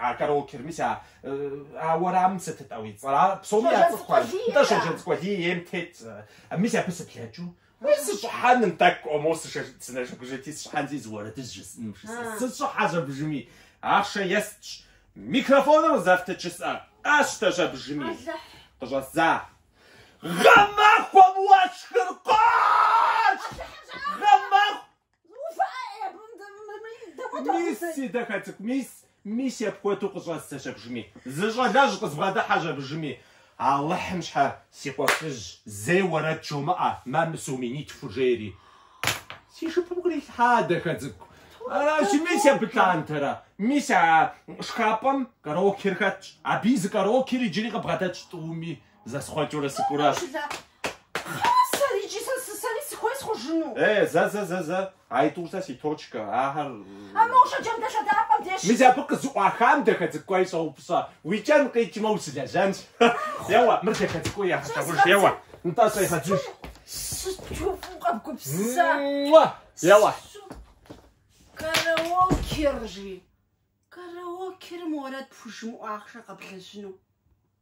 А караокер мис а а уэрамым сытытӏэ уи цӏэр? Ар псоми я Щоджэнцӏыкӏу Алий, Нтӏэ, да. Щоджэнцӏыкӏу Алий ейм тет. э, Мис абы сыблэкӏыу. Уи сыщӏыхьэным, тӏэкӏу ӏуэмэу сышэ- сынэжэгужэти, сыщӏыхьэн зиӏэ зы уэрэдыжь жысӏэным жысӏэ. А. Сыщӏыхьэщ абыжыми. Ахъшэ естщ. Микрофоныр къызэфт жысӏэри къэсщтэщ абыжыми. Алыхь! Къыщӏэздза. Гъэмахуэм уэшхыр къошх! Алыхьым щӏэӏэпхъуэ! Гъэмаху! Мис, си дахэ цӏыкӏу, мис, мис апхуэдэу къыщӏэздзэщ абыжми. Зы щӏалэжь къызбгъэдыхьэщ абыжми. Алыхьым щхьэ, си къуэшыжь, зэи уэрэд жумыӏэ, мэ мы сом минитхур жери си жыпым кърилъхьа, дахэ цӏыкӏу. Аращи, мис абы лъандэрэ. Мис а шхапӏэм караокер хэтщ. Абы и зы караокер иджыри къыбгъэдэтщ тӏуми. Зэсхъуэкӏыурэ сыкӏуэу аращ. Хъасэр иджы сэ сысэри сыхуей схъужыну. Э, зэ, зэ, зэ, зэ. А итӏур сэ си точкэ. Ахэр... А моу Шэджэм дэлъэдапӏэм деж. Мис абы къызыӏуахам дахэ цӏыкӏууэ щӏэупщӏэ. Уи кӏэн къикӏмэ, ущылэжьэнщ. Еуэ, мыр дахэ цӏыкӏуу егъэлъагъуж. Еуэ, нтӏэ щӏегъэджыж. Сыту фӏыу къэбгупсыса. Муа! Еуэ. Караокер, жи. Караокерым уэрэд пхужымыӏэу ахъшэ къэблэжьыну.